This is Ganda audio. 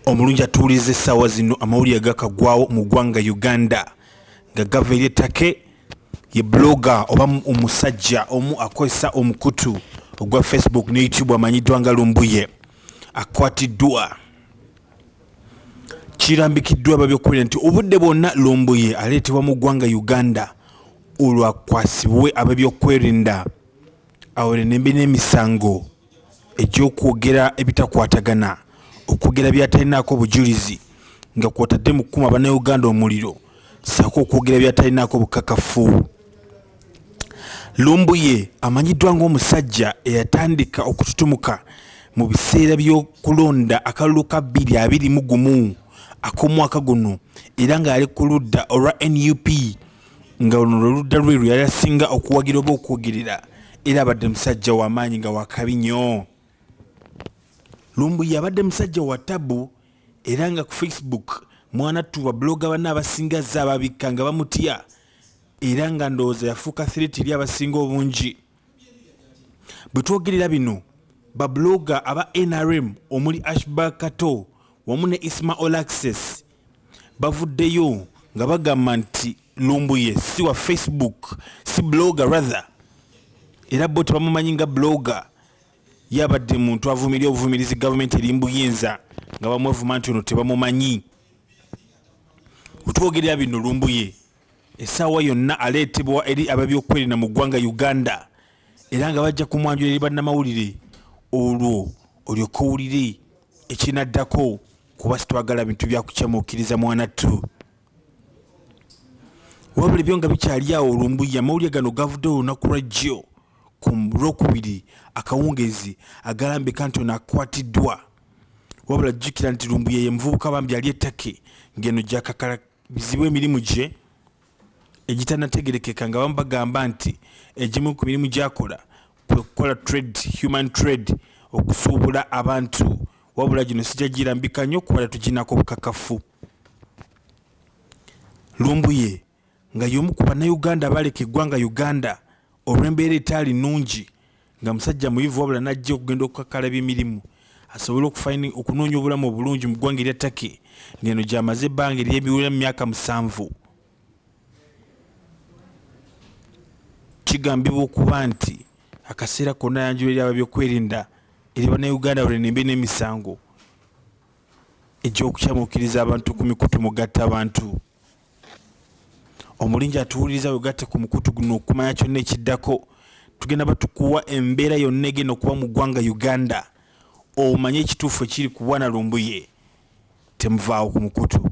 Omulungi atuwuliriza essaawa zino amawulire gakagwawo mu ggwanga Uganda nga gava eri ettake ye blogger oba omusajja omu akozesa omukutu ogwa Facebook ne YouTube amanyiddwa nga Lumbuye akwatiddwa kirambikiddwa ababyokulira nti obudde bwonna lumbuye aleetebwa mu ggwanga uganda olwakwasibwe abebyokwerinda awere nembi n'emisango egy'okwogera ebitakwatagana, okwogera byatalinaako bujulizi nga kwotadde mu kukuma bannayuganda omuliro ssaako okwogera byatalinaako bukakafu. Lumbuye amanyiddwa ng'omusajja eyatandika okututumuka mu biseera by'okulonda akalulu ka bbiri abiri mu gumu ak'omwaka guno era nga yali ku ludda olwa nup, nga luno lwe ludda lwe lwe yali asinga okuwagira oba okwogerera era abadde musajja wamaanyi nga wakabi nyo lumbuye abadde musajja wa tabu era nga ku facebook mwana tuba bloga banna abasinga zze ababikka nga bamutya era nga ndowooza yafuuka thiriti eri abasinga obungi bwe twogerera bino babuloga aba nrm omuli ashbar kato wamu ne isma olaxes bavuddeyo nga bagamba nti lumbuye si wa facebook si blogger rather era bo tebamumanyi nga blogger yabadde muntu avumirira obuvumirizi gavumenti eri mbuyinza nga bamwevuma nti ono tebamumanyi otwogerera bino lumbuye essaawa yonna aleetebwa eri ababyokwerinda mu ggwanga uganda era nga bajja kumwanjula eri bannamawulire olwo olyoka owulire ekinaddako kuba sitwagala bintu byakucamuukiriza mwanattu wabula ebyo nga bikyali awo olumbuya amawulire gano gavudde olunaku lwa jjo ku lwokubiri akawungeezi agalambika nti ono akwatiddwa wabula jjukira nti lumbuya ye muvubuka bambi ali ettake ng'eno gyakakala bizibu emirimu gye egitanategerekeka nga bamu bagamba nti egimu ku mirimu gyakola kwe kukola trade human trade okusuubula abantu wabula gino sijja girambika nnyo kuba tetuginako obukakafu lumbuye nga y'omu ku bannayuganda abaaleka eggwanga uganda olw'embeera etaali nnungi nga musajja muyivu wabula n'ajja okugenda okukakkalaba emirimu asobole okufayini okunoonya obulamu obulungi mu ggwanga erya Turkey ng'eno gy'amaze ebbanga ery'ebiwera mu myaka musanvu kigambibwa okuba nti akaseera konna ayanjula eri ababyokwerinda eri bannayuganda balenembe n'emisango egy'okukyamukiriza abantu ku mikutu mugatta abantu omulungi atuwuliriza wegatte ku mukutu guno okumanya kyonna ekiddako tugenda batukuwa embeera yonna egenda okuba mu ggwanga uganda omanye ekituufu ekiri ku bwana lumbuye temuvaawo ku mukutu